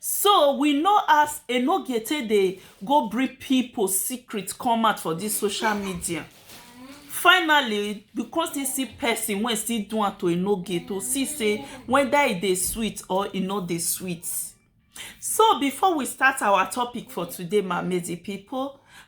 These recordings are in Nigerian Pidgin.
So we know as Enogie take dey go bring people secret come out for this social media. Finally, because he see person wey still do am to Enogie to see say whether e dey sweet or e no dey sweet. So before we start our topic for today, my amazing people,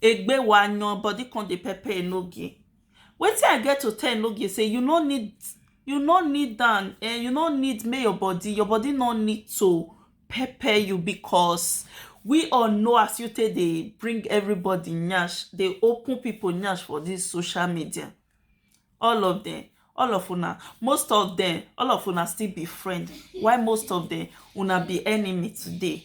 Egbe wa yan body come dey pepper Enogie. Wetin I get to tell Enogie say you no need you no need am um you no need make your body your body no need to pepper you because we all know as you take dey bring everybody nyash dey open people nyash for this social media all of them all of una most of them all of una still be friend while most of them una be enemy today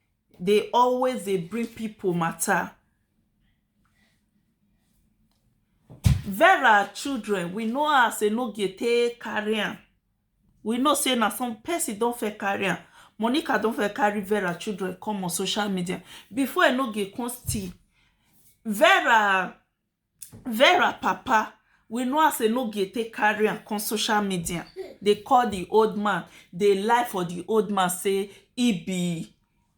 dey always dey bring pipo mata Vera children we know how Asonogie take carry am we know say na some person don first carry am Monica don first carry Vera children come on social media before Enogie come steal Vera Vera papa we know as Enogie take carry am come social media dey call the old man dey lie for the old man say he be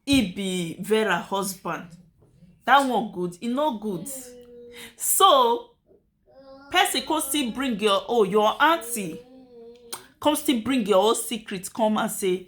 he be Vera husband that one good e no good so person come still bring your own your aunty come still bring your own secret come out say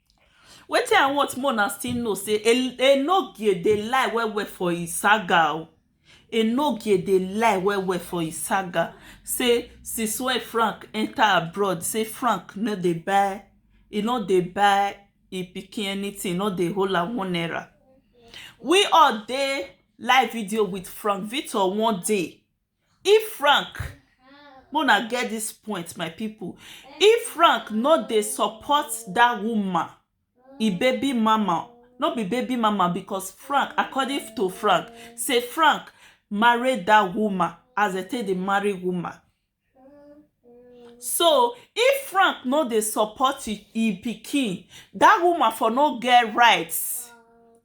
Wetin I want make una still know sey Enogie dey lie well well for im saga oh. Enogie dey lie well well for im saga sey since wey Frank enter abroad sey Frank no dey buy e no dey buy im pikin anything. E no dey hold am one naira. We all dey live video with Frank Victor one day. If Frank, make una get this point my people, if Frank no dey support that woman, e baby mama, no be baby mama because Frank, according to Frank, say Frank marry that woman as dem take dey marry woman. So if Frank no dey support im im pikin, dat woman for no get right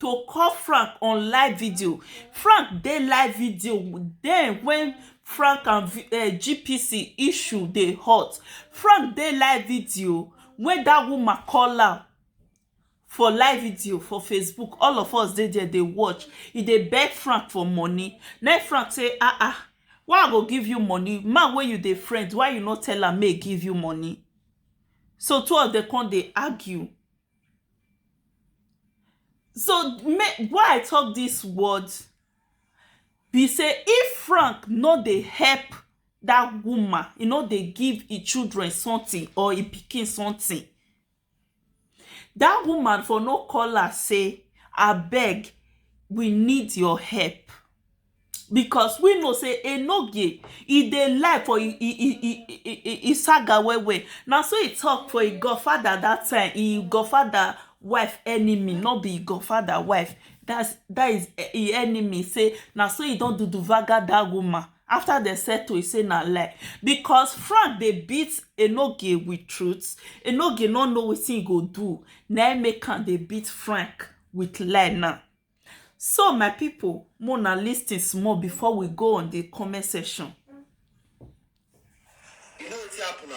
to call Frank on live video. Frank dey live video den wen Frank and GPC issue dey hot. Frank dey live video wen dat woman call am for live video for facebook all of us dey there dey watch e dey beg frank for money na frank say ah ah why i go give you money man wey you dey friend why you no tell am make e give you money so two of dem come dey argue so make why i talk this word be say if frank no dey help that woman e no dey give e children something or e pikin something Dat woman for no call am sey abeg we need your help because we know sey enoge e dey lie for im im saga well well na so e talk for im God father dat time im God father wife enemy no be im God father wife dat is im enemy sey na so e don duduvaga dat woman after dem settle e say na lie because Frank dey beat Enogie with truth, Enogie no know wetin he go do na im make am dey beat Frank with lie now. So my people make una lis ten small before we go on the comment section. You know wetin happen na,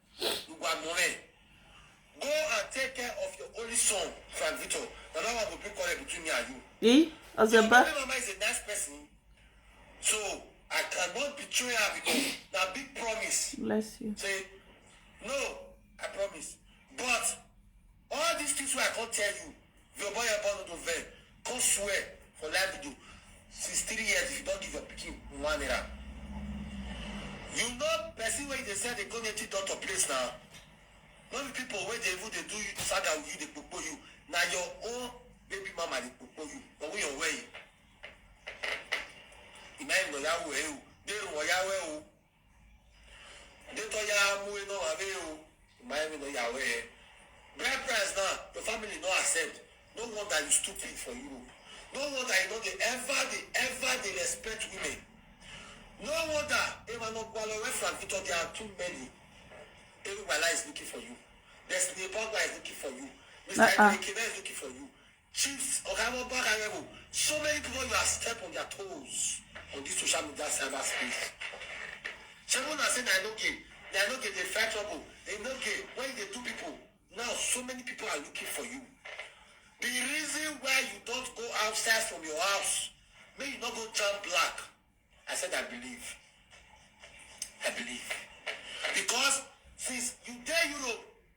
gbogbo àmọ́ rẹ̀ go and take care of your only son Frank Victor na that one go be quarrel between me and you. i ọsẹ bá. my mama is a nice person so I cannot betray her because na big promise. bless you. say no I promise but all these things wey I come tell you Your boy your boy no to vex. Come swear for live video since three years if you don give your pikin one naira. You know person wey you dey sell dey go native doctor place na. No be people wey dey even dey do you saga with you dey kpokpo you. Na your own baby mama dey kpokpo you. But wey your way. Ìmọ̀ ìmọ̀ ìyàwó ẹ̀ o. Dé ìwọ̀ ìyàwó ẹ̀ o. Dito ya mu e no ave o. My me no ya we. Bride price now, your family no accept. No wonder you stupid for Europe. No wonder you no dey ever dey ever dey respect women. No wonder Emmanuel Gwalo and Frank Victor they are too many. Eric Wala is looking for you. Destiny Pogba is looking for you. Mr. Uh-uh. Ekena is looking for you. Chiefs oga Mohbad Arẹwo, so many pipo you are step on their toes on this social media cyber space Shebi una say na enoge na enoge dey fight trouble enoge when you dey do pipo now so many pipo are looking for you the reason why you don't go outside from your house make you no go jam black I said I believe I believe because since you dey Europe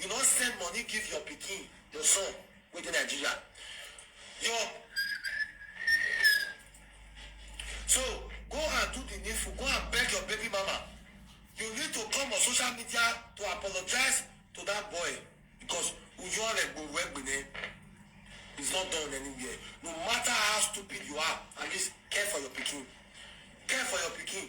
You no send money give your pikin, your son wey dey Nigeria. Your So go and do the needful. Go and beg your baby mama. You need to come on social media to apologize to that boy because it's not done anywhere. No matter how stupid you are, at least care for your pikin. Care for your pikin.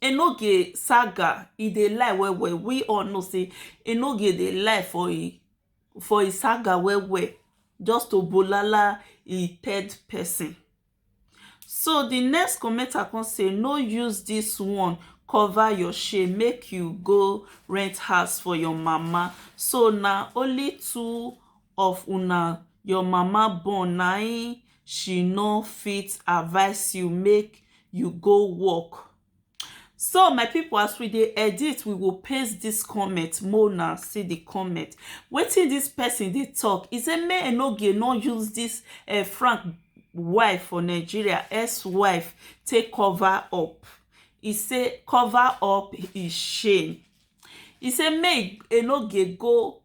Enoge saga e dey lie well well we all know sey Enoge dey lie for im for im saga well well just to bolala im third person so di next commenter come say no use dis one cover your shame make you go rent house for your mama so na only two of una your mama born na im she no fit advice you make you go work so my people as we dey edit we go paste this comment make una see the comment wetin this person dey talk he say make enogie no use this uh, frank wife for nigeria ex wife take cover up he say cover up his shame he say make enogie go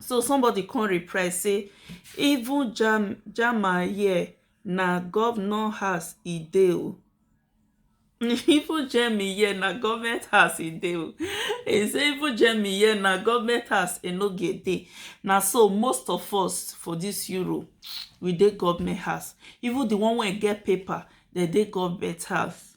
So somebody come reply say even jam jama here na governor house e dey o. even Jemmy here na government house e dey o. He say even Jemmy here na government house e no get dey. Na so most of us for this Europe we dey government house. Even the one wey get paper dem dey government house.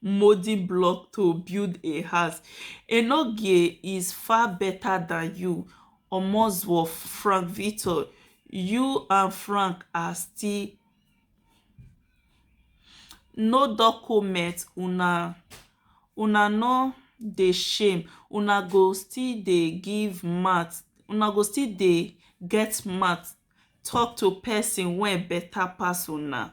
modi block to build a house enogie is far beta dan you omozowo frank victor you and frank are still no docoment una una no dey shame una go still dey give mouth una go still dey get mouth tok to pesin wey beta pass una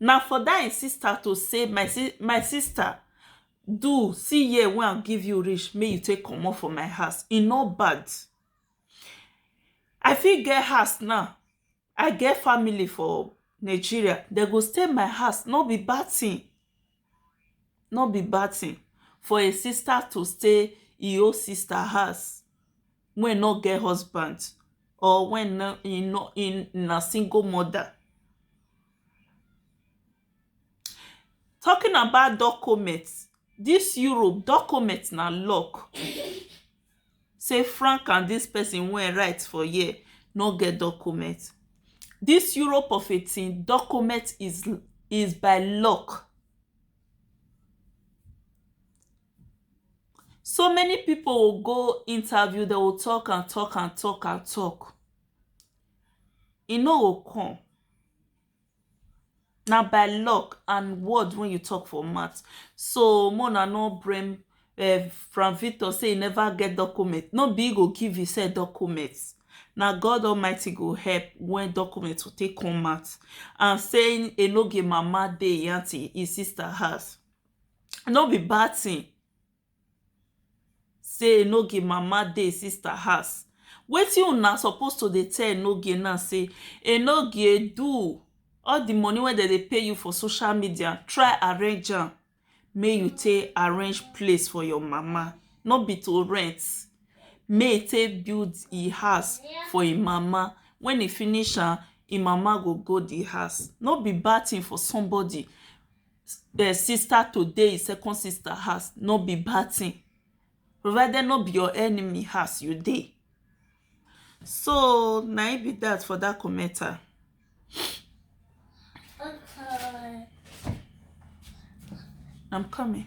Na for dat im sister to say my si my sister do see year wey I give you reach make you take comot for my house e no bad I fit get house now I get family for Nigeria dem go stay my house no be bad thing nor be bad tin for a sista to stay e own sista house wey nor get husband or wey nor e nor e na single moda. Talking about document, dis Europe document na lock sey Frank and dis person wey e write for here no get document. Dis Europe of a thing, document is is by luck. So many people will go interview, they will talk and talk and talk and talk, e no go come. na by luck and word wey you talk for mouth so make una no blame um Frank Victor say e never get document no be him go give himself document na God Almighty go help when document go take come out and say Enoge mama dey him aunty him sister house no be bad thing Say no ge mama dey sister house wetin una suppose to dey tell no ge na say e no ge do all the money wey dem dey pay you for social media try arrange am make you take arrange place for your mama no be to rent make e take build e house for e mama when e finish am e mama go go the house no be bad thing for somebody um sister to dey im second sister house no be bad thing provided no be your enemy house you dey so na im be that for that commenter I'm coming.